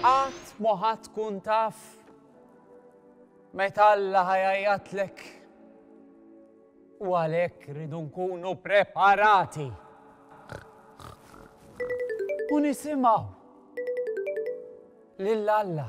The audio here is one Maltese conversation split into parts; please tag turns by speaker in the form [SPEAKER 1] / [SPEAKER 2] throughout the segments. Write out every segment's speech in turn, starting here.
[SPEAKER 1] Qatt ma ħa tkun taf meta Alla ħa jgħajjatlek. U għalhekk rridu nkunu preparati. U nisimgħu lil Alla.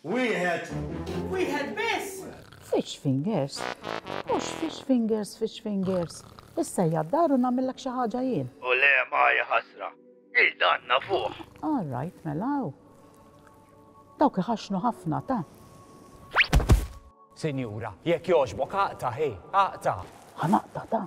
[SPEAKER 1] Wieħed. Wieħed biss! Fish fingers? Mhux fish fingers, fish fingers. Issejja d-dar u nagħmillek xi ħaġa jien. U le maja ħasra. Il-dan nafuh. All right, mela. Dawk iħaxnu ħafna ta'. Sinjura, jekk jogħġbok aqta' ħi, aqta'. Ħanaqta' ta'.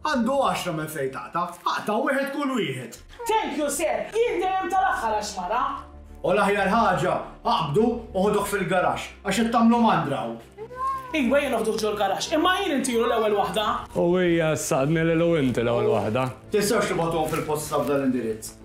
[SPEAKER 1] Għandu għaxra minn fejn taqta'. Aqta' wieħed kull wieħed. Thank you sir, jien dejjem tal-aħħar għax mara. U l-aħjar ħaġa, aqbdu u ħuduh fil-garaxx, għax qed tagħmlu mandra hawn. Iva jien noħduh ġol-garaxx, imma jien intiru l-ewwel waħda. U hija ssaqtni lilu inti l-ewwel waħda. Tistgħux tibgħatuhom fil-posta f'dan l-indirizz.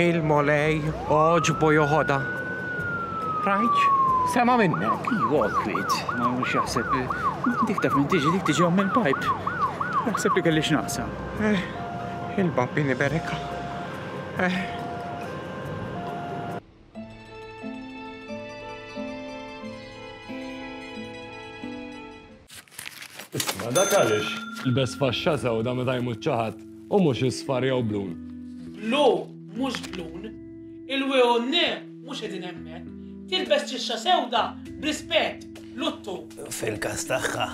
[SPEAKER 1] Il-Mulej għoġbu joħodha. Rajtx? Sema' minnek. Iva, kwiet. Ma jkunx jaħseb dik taf min tiġi, dik tiġi omm il-pipe. Jaħseb li kelli x'naqsa. Eh, il-babbini bereka. Eh. Isma' dak għaliex ilbes faxxa sewda meta jmut xi ħadd u mhux isfar jew blun. Blu mhux blun. Il-WUN mhux qegħdin hemmhekk. Tilbes ċixxa sewda b'rispett, luttu. Fil-każ tagħha,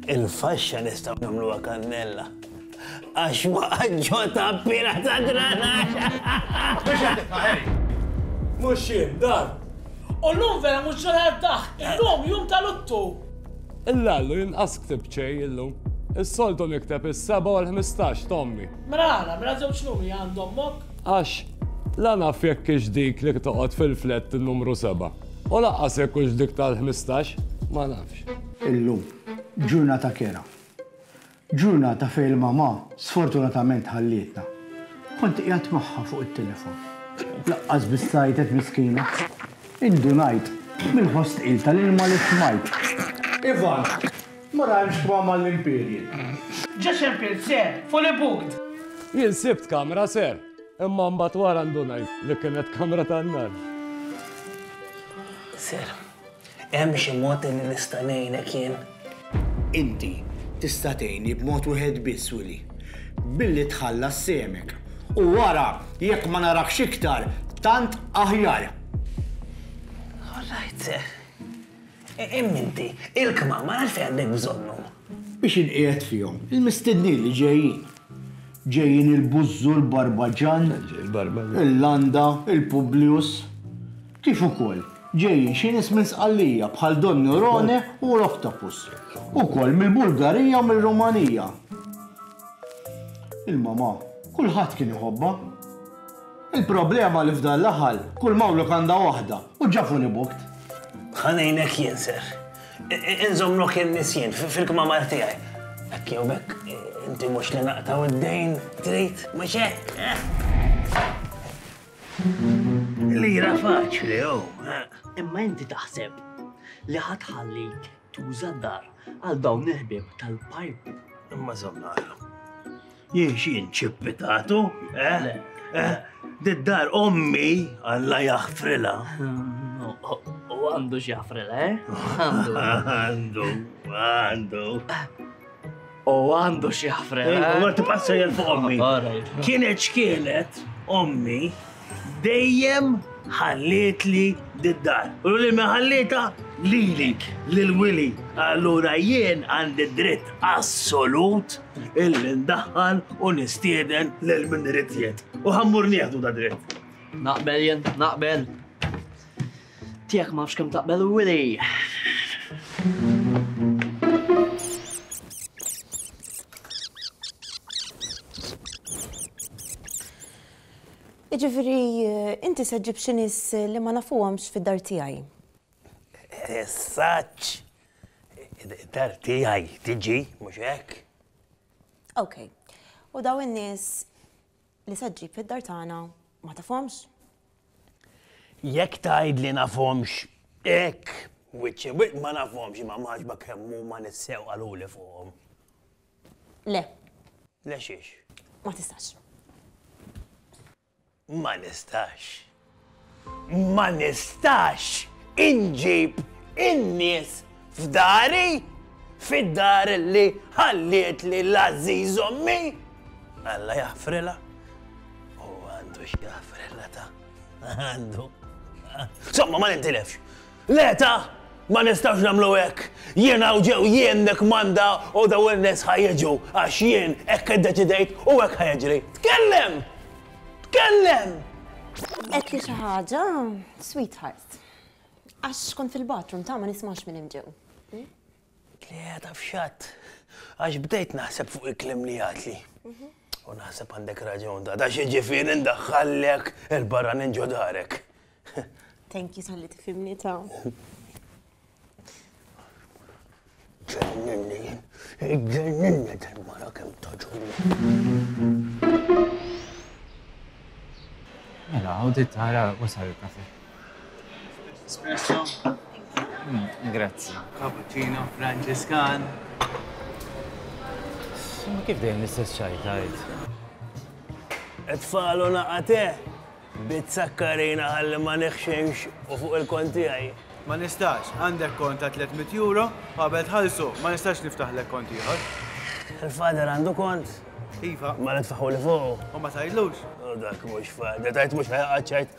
[SPEAKER 1] il-faxxa nistgħu nagħmluha kannella. Għax waqgħet ġo tappiera ta' dranax! Biex qed tibqa' Harry? Mhux jien, dan! U llum vera mhux ġurnata tad-daħk, illum jum ta' luttu! Illallu jien qas ktibt xejn illum. Is-soltu nikteb is-seba' u l-ħmistax ta' ommi. Mela ara, mela żewġ numri għand ommok? Għax la naf jekk hix dik li toqgħod fil-flett in-numru seba', u lanqas jekk hux dik tal-ħmistax, ma nafx. Illum, ġurnata kerha. Ġurnata fejn il-mamà sfortunatament ħallietna. Kont qiegħed magħha fuq it-telefon. Laqqas biss għajtet miskina. Indunajt mill-ħoss tqil tal-ilma li smajt. Ivan, ma rajmx kma mal-Imperial. Ġa xempil, sir, fully booked! Jien sibt kamra, sir, imma mbagħad wara ndunajt li kienet kamra tan-nar. Sir. Hemm xi mod li nista' ngħinek jien? Inti tista' tgħinni b'mod wieħed biss, Willie. Billi tħallas sehmek. U wara, jekk ma narakx iktar, tant aħjar. All right, sir. Imma inti, il-kmamar għalfejn għandek bżonnhom? Biex inqiegħed fihom il-mistednin li ġejjin. Ġejjin il-Bużżu, il-Barbaġan, il-Landa, il-Publius. kif ukoll ġejjin xi nies minn Sqallija bħal Don Neurone u Rocktopus, ukoll mill-Bulgarija u mir-Rumanija. Il-mamà kulħadd kien iħobbha. Il-problema li f'dan l-aħal kull mawluk għandha waħda u ġa fully booked. Ħa ngħinek jien ser. Inżommlok in-nies jien fil-kmamar tiegħi. Hekk jew b'hekk inti mhux li naqtgħu d-dejn trid, mhux hekk? Lira faċli, oh, eh. Imma inti taħseb li ħadd ħallik tuża d-dar għal dawn il-ħbieb tal-pajp. Imma żamnara. Jien xi nċippitatu, eh? eh? Did-dar ommi Alla jaħfrilha. U għandu xi jaħfrilha, eh? Għandu. Għandu, għandu. U għandu xi ħfrel. Eh? Għor tibqa' sejjer fuq ommi. Kienet xkielet ommi dejjem ħallietli did-dar. U li meħallita lili lil Willy. Allura jien għandi dritt assolut illi ndaħħal u nistieden lil min irid U ħammur nieħdu da dritt. Naqbel jien, naqbel. Tiegħek ma nafx kemm taqbel u Iġifiri, inti se ġib xi nies li ma nafuhomx fid-dar tiegħi. Saċ! Dar tiegħi tiġi, mhux hekk? Okej. U daw in-nies Li se ġġib fid-dar tagħna ma tafhomx. Jekk tgħid li nafhomx hekk, wiċċ imwiegħed ma nafhomx imma m'għaġba kemm huma nissew qaluli fuqhom. Le. Le xiex? Ma tistax. Ma nistax. Ma nistax inġib in-nies f'dari, fid-dar li ħallietli l-għażiż ommi? Alla jaħfrilha. U għandu x'jaħfrilha ta' għandu. Somma ma nintilefx. Le ta! Ma nistgħux nagħmlu hekk! Jien hawn ġew jien nikkmanda u dawn in-nies ħa jiġu għax jien hekk iddeċidejt u hekk ħa jiġri! Tkellem! Tkellem! Għedt li xi ħaġa, sweetheart. Għax kont fil-bathroom ta' ma nismax minn hemm ġew. Li qiegħda f'xatt. Għax bdejt naħseb fuq il-kliem li għatli. U naħseb għandek raġun da, da xieġifieri ndaħħallek il-barra ninġo darek. Thank you tal-li tifimni ta' Ġenninni, ġenninni tal-mara kem Mela, għawdi tara wasal il-kafe. Espresso. Grazzi. Cappuccino, Franġiskan. Ma kif dejjem l-istess ċaj tajt? Tfalu naqate, bizzakkarina għalli ma neħximx u fuq il-konti għaj. Ma nistax, għandek kont ta' 300 euro, qabel tħallsu, ma nistax niftaħlek kont ieħor. Il-fader għandu kont? Iva. Ma nitfaħu li fuq. U ma tajdlux? U dak mhux fader, tajt mhux ħajqaċċajt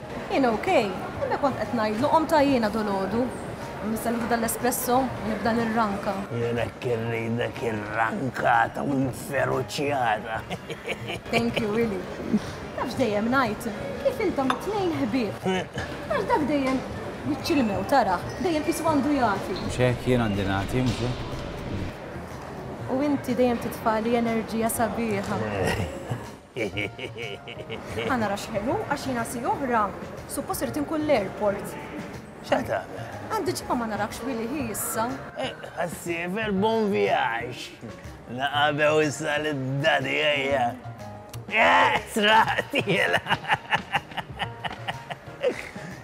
[SPEAKER 1] Jien ok, imma kont qed ngħidlu qomt għajjiena dolodu, nistennew f'dan l-espresso u nibda nirranka. Jien hekk irridek irrankata u inferuċjata. Thank you, Willy. Nafx dejjem ngħid kif intom it-tnejn ħbieb. Għax dak dejjem wiċċ il-mew tarah, dejjem qisu għandu jagħti. Mhux hekk, jien għandi nagħti, mhux hekk? U inti dejjem titfagħli enerġija sabiħa. Ħa nara x'ħelu għax jiena si oħra suppost irid inkun l-airport. X'għad tagħmel? Għandi ġimgħa ma narakx wili hi issa. Ħassiever eh, bon vjaġġ. Naqabew issa lid-dadi ejja. Eh, Sraqtiela!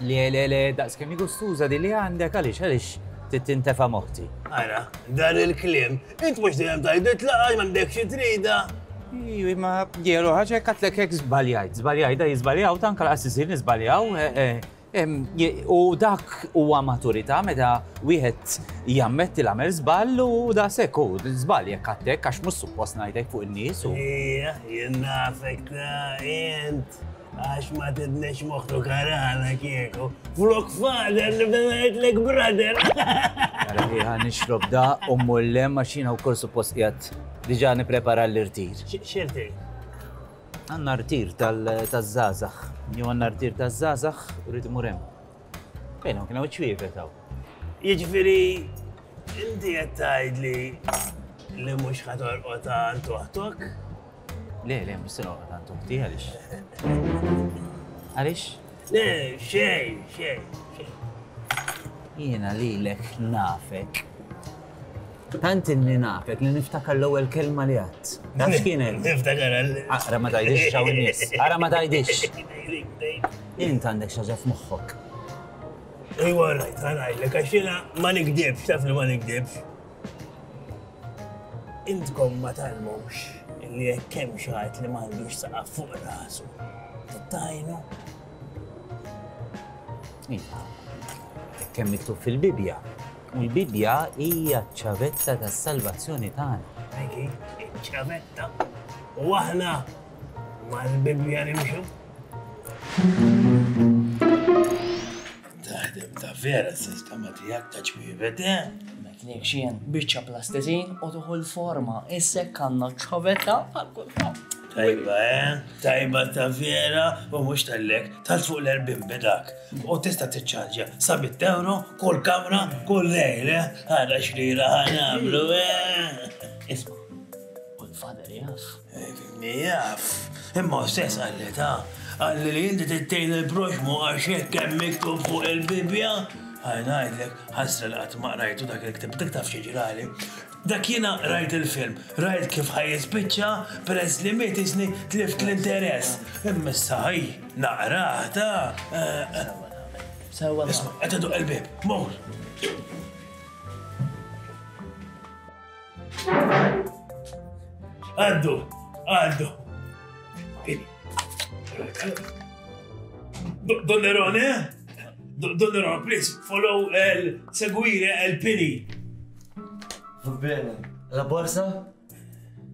[SPEAKER 1] Le, le, le, daqs kemm hi gustuża din li għandek, għaliex, għaliex trid tintefa' moħħti. Ara, dan il-kliem, int mhux dejjem tgħiditla għax m'għandek xi trida. Iwi, ma jieru ħaġa hekk għatlek hekk żbaljajt, żbaljajt da jiżbaljaw, ta' anke laqas isir niżbaljaw. Eh, eh, em, je- U dak huwa maturità meta wieħed jammetti l-għamel żball u da sekk hu żball jekk għatlek għax mhux suppost ngħidlek fuq in-nies u. Ija, jien nafek ta' int. Għax ma tidnex moħtu karana kieku. Flok fader nibda ngħidlek brother. Għara li ħan nixrob da u mullem għax jiena wkoll suppost qiegħed diġà nipprepara l-irtir. X'irtir? Għandna rtir tal-żgħażagħ. Jew għandna rtir taż-żgħażagħ u rrid imur hemm. Fejn hawn kien hawn ċwievet hawn. Jiġifieri inti qed tgħidli li mhux ħatorqod għal toħtok? Le, le, mhux se noqgħod għand uħti għaliex. Għaliex? Le, xejn, xejn, xejn. Jiena lilek nafek. Tant inni nafek li niftakar l-ewwel kelma li għadd. Naf x'kienet? Niftakar għal. Ara ma tajdix xaw nies. Ara ma tajdix. Int għandek xi ħaġa f'moħħok. Ejwa rajt, għalajlek, għax jiena ma nikdibx, taf li ma nikdibx. Intkom ma tgħallmux li jekk hemm xi ħadd li m'għandux saqaf fuq rasu, tittajnu? Iva, hekk hemm miktub fil-Bibbja. U l-Bibbja hija ċ-ċavetta tas-salvazzjoni tagħna. Eki, iċ-ċavetta. U aħna mal-Bibbja nimxu. Taħdem ta' vera s-sistema tiegħek ta' ċwievet, eh? Nek xien, biċċa plastisin u tuħu l-forma, issek għandna ċovetta għal kulħadd. Tajba, eh? Tajba ta' vera u mux tal-lek, tal fuq l-erbin bedak. U tista t-ċarġa, sabit euro, kull kamra, kull lejl, eh? Għada xrira għana għamlu, eh? Isma, u l-fader jaf. Jaf, imma stess qalli ta, qalli li inti tittejn il-proxmu għax hekk hemm miktub fuq il-Bibbja. Ħaj ngħidlek, ħasra li qatt ma qrajtu dak il-ktieb, dik taf xi ġrali. Dak jiena rajt il-film, rajt kif ħaj jispiċċa, peress li miet isni tlift l-interess. Imma issa ħaj naqrah ta. Isma' qed iduq il-bieb, mur! Għaddu, għaddu. Don Nerone, Don Nerone, please, follow el seguire el pini. Va bene, la borsa?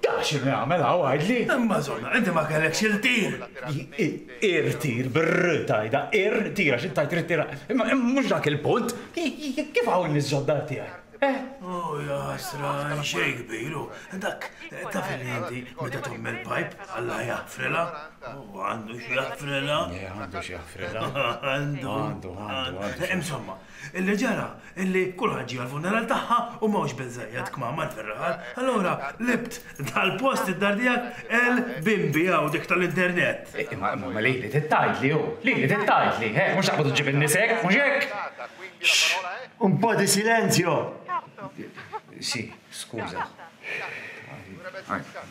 [SPEAKER 1] Taf x'inhu jagħmel hawn, għidli? Imma żona, inti ma kellekx il-tir! Irtir, bir-r tgħidha, irtir, għax int tgħid trid tira. Imma mhux dak il-punt. Kif hawn in-nies ġodda tiegħi? Oh, jasra, xejn kbir, u dak taf li inti meta tagħmel pajp, Alla jaħfrilha. U għandu x'jaħfrilha. Għandu x'jaħfrilha. Għandu. Għandu, għandu. Insomma, Illi ġara, illi kulħadd ġie għall-funeral tagħha u m'hawnx biżżejjed kmamar fir-raħal. Allura, libt dal-post id-dar tiegħek għel bimbi hawn dik tal-internet. Imma, imma, imma lili trid tgħidli hu, lili trid tgħidli, eh, mhux taqbad u ġġib in-nies hekk, mhux hekk? Xx! Un po' di silenzio! Si, skuża. Għajr.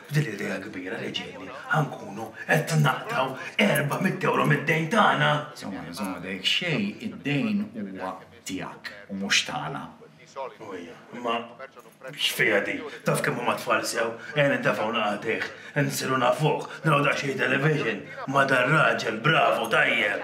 [SPEAKER 1] B'din l-idea kbira li ġietni ħa nkunu qed naqtgħu 400 ewro mid-dejn tagħna! Żomma, żomma, dehekk xejn, id-dejn huwa tiegħek u mhux tagħna. Ojja, imma x'fiha din? Taf kemm huma t-tfal sew? Ejja nintefgħu naqatgħih, insiru nafuh, naraw daqsxejn television ma' dar-raġel, bravu, tajjeb!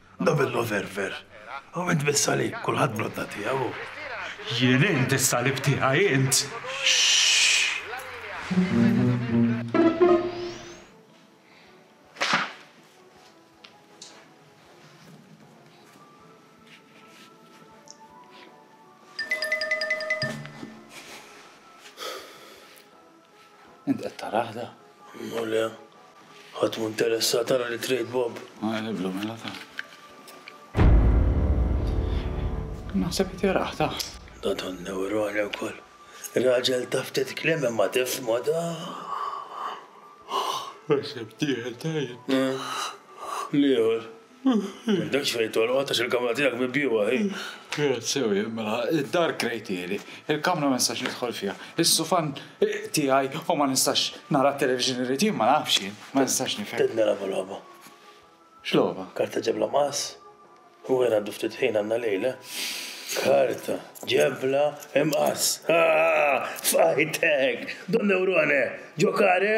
[SPEAKER 1] Novello ver ver. U int bis-salib, kulħadd bl-għodda tiegħu hu. Jien int is-salib tiegħi int. Int qed tarah da? Imma le, ħadd mhu interessat ara li trade Bob. Ma jħebblu mela ta. Naħseb qed jarah ta. Da don newroni wkoll. Raġel ta' ftit kliem imma tifhmu da. Naħseb tieħel tajjeb. L-ieħor. M'għandekx fejn tolqot għax il-kamra tiegħek mibjugħa hi. Kienet sewi, mela, id-dar krejtieli, il-kamra ma nistax nidħol fiha, is-sufan tiegħi u ma nistax nara t-television li rrid jien, ma nafx jien, ma nistax nifhem. Qed nilagħbu logħba. X'logħba? Karta ġebla mqass. U wien għaddu ftit ħin għandna lejl, eh? Karta ġebla imqass. F'qajtek! Don Newrone! Ġokare!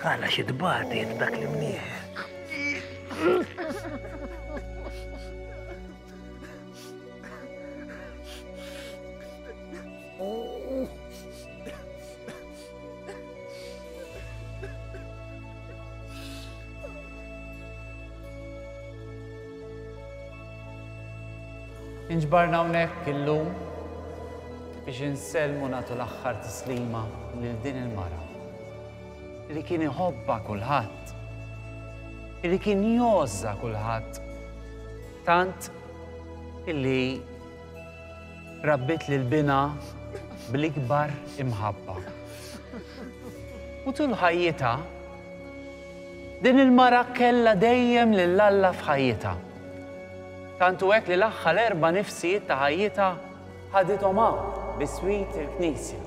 [SPEAKER 1] Għala xi tbati dak li mnieħ. Inġbarna hawnhekk illum biex insellmu nagħtu l-aħħar tislima lil din il-mara li kien iħobba kulħadd, li kien joża kulħadd Tant illi rabbit lil binha bl-ikbar imħabba. U tul ħajjitha, din il-mara kellha dejjem lil Alla f'ħajjitha. Tant hu hekk li l-aħħar erba' nifsijiet ta' ħajjitha ħadithom hawn biswit il-knisja.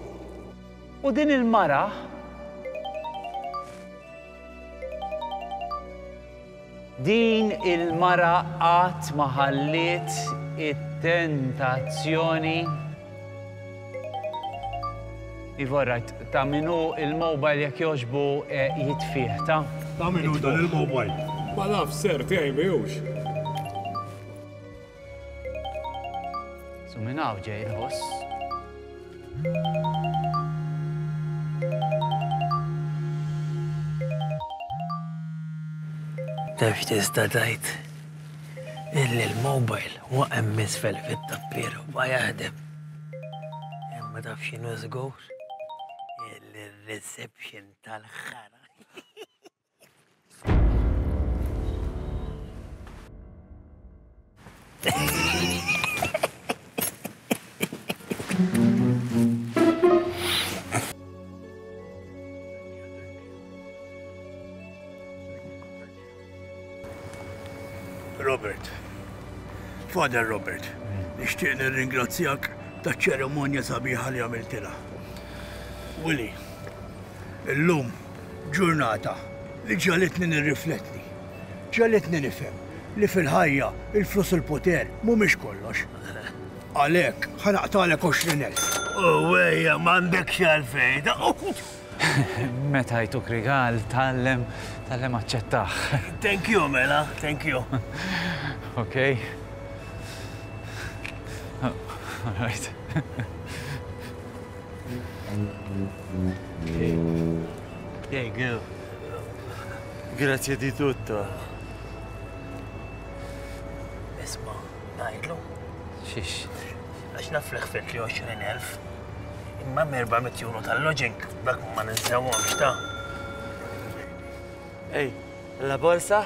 [SPEAKER 1] U din il-mara Din il-mara qatt ma ħalliet it-tentazzjoni Iva alright, ta' min hu l-mobile jekk jogħġbu jitfih, ta? Ta' min hu dan il-mobile? Ma nafx sir, tiegħi mhijiex. So minn hawn ġej il-ħoss. Nafx tista' tajt illi l-mobile waqem misfel fit-tappier u ma jaħdem. Imma taf x'inhu żgur illi r-reception tal-ħara. Robert. Father Robert, nixtieq nirringrazzjak ta' ċeremonja sabiħa li għamiltilha. Willy, illum Ġurnata li ġagħlitni nirrifletti, ġagħlitni nifhem li fil-ħajja l-flus u l-poter mhumiex kollox. Għalhekk ħa naqtagħlek għoxrin elf. U ejja, m'għandekx għalfejn. Meta jtuk rigal, tgħallem, tgħallem aċċettah. Thank you, mela, thank you. Ok. All right. Grazie di tutto. Isma, najdlu. Xiex. Għax naf li xfet li 20.000. Imma merba mit euro tal-lodging, dak ma ninsewhomx ta'. Ej, la borsa?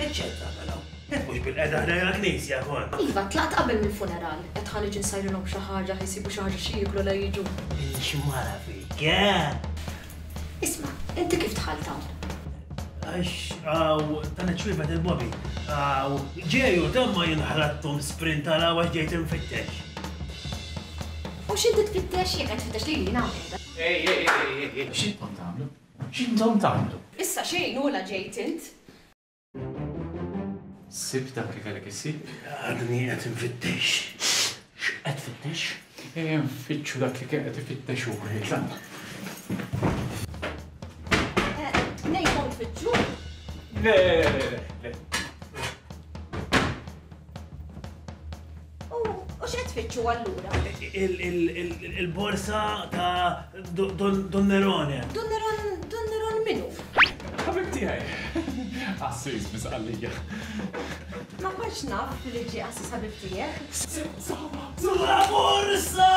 [SPEAKER 1] Eċċetta, però. Qed mhux bil-qeda ħdejja l-knisja kol. Iva, tlaqt qabel mill-funeral, qed ħaniġi nsajrilhom xi ħaġa, ħisibu xi ħaġa xi jieklu la jiġu. Xi mara fik, eh? Isma', inti kif dħalt hawn? Għax għaw dan iċ-ċwievet il-bobi. Għaw ġeju dan ma jinħrattom sprint għal għaw għax ġejt infittex. U xinti tfittex jek qed tfittex li jina għamilta? Ej, ej, ej, ej, ej. Xintom tagħmlu? Xintom tagħmlu? Issa xejn ula ġejt int. Sib dak li kellek issib? Għadni qed infittex. X'qed fittex? Eh, nfittxu dak li kien qed ifittex u Le, le, le. U x'qed tfittxu allura? Il-borsa ta' Don Nerone. Don Nerone, Don Nerone minu? Ħabib tiegħi. Assis misqallija. Ma kontx naf li ġi assis ħabib tiegħek. Saba, saba borsa!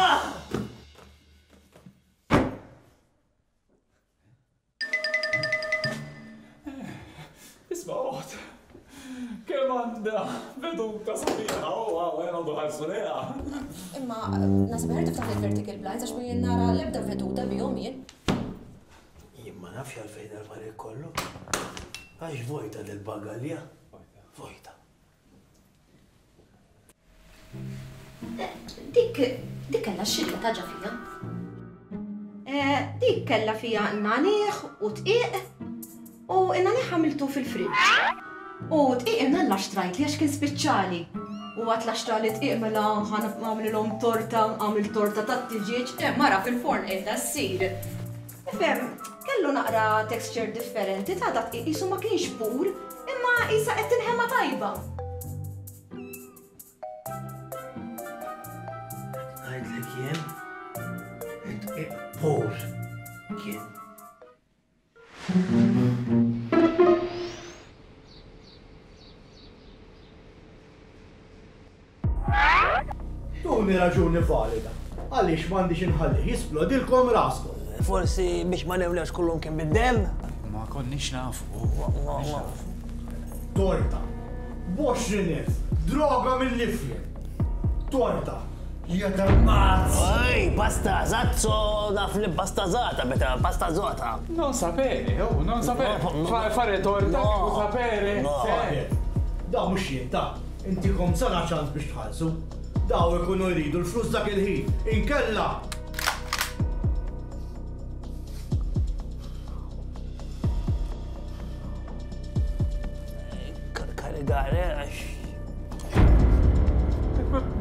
[SPEAKER 1] Isma' oħt, kemm għandha veduta sabiħa u għawel għandu ħarsu leha. Imma nasib ħertu f'dawn il-vertical blinds għax minn nara l-ebda veduta bihom jien. Jien ma nafx għalfejn għal-affarijiet kollu. Għax vojta del-bagalja. Vojta. Dik, dik kella xilqa taġa fija. Eh, dik kella fija naniħ u tqiq u naniħ għamiltu fil-friġ. U tqiq imna l-laxtrajt li għax kien speċjali. U għat laxtra li tqiq mela għamlilhom torta, għamil torta tat-tiġieġ, eh, mara fil-forn edha s-sir. Tifhem, kellu naqra texture differenti ta' dak qisu ma kienx pur, imma qisha qed tinħema tajba. Ngħidlek jien, qed pur kien. Tuni raġuni valida għaliex m'għandix inħallih jisplodilkom raskom. Forsi biex ma newlewx kullum kien bid-demm? Ma konniex nafu. Torta. Boxrinif. Droga mill-ifjen. Torta. Jeta mazz! Ej, pasta zazzo, naf li pasta zata, beta pasta zota. Non sapere, oh, non sapere. Fare torta, non sapere. Daw mux jien, ta' Intikom sena ċans biex tħallsu. Daw ikunu jridu l-flus dak il-ħin. Inkella! Karigare, għax.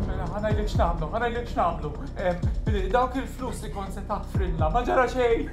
[SPEAKER 1] Mela, ħanajlek x'namlu, ħanajlek x'namlu. Dawk il-flus li kont se tafrilna, ma ġara xejn.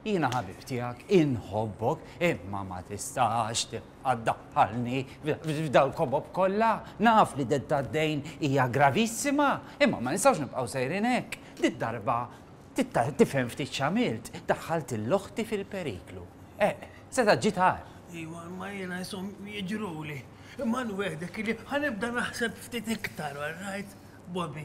[SPEAKER 1] Jiena ħabib tiegħek inħobbok imma ma tistax tibqaddaħħalni f'dal kobob kollha. Naf li detta d-dejn hija gravissima, imma ma nistgħux nibqgħu sejrin hekk. Dit darba tifhem ftit x'għamilt, daħħalt l-oħti fil-periklu. Eh, seta' ġitar. Iwa, ma jiena jisom jiġruli. Imma nwedek li ħanibda naħseb ftit iktar, all right, Bobby.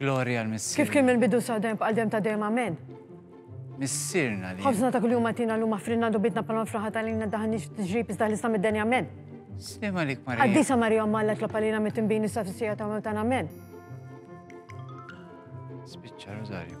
[SPEAKER 1] Glorja għal Missierna. Kif kien mill-bidu sa dejjem b'qal dejjem ta' dejjem amen. Missierna li. Ħafna ta' kuljum għatina l-lum aħfrinna dubitna palma fraħat għalina daħanix tiġrib iżda ħlisna mid-deni amen. Slima li kmar. Għaddisa Marija Malla tlob għalina mit-timbini sa' fissija ta' mewtan amen. Spiċċa Rosario.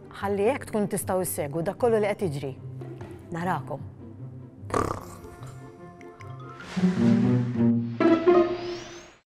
[SPEAKER 1] Ħalli hekk tkun tistgħu ssegwu dak kollu li qed jiġri. Narakom.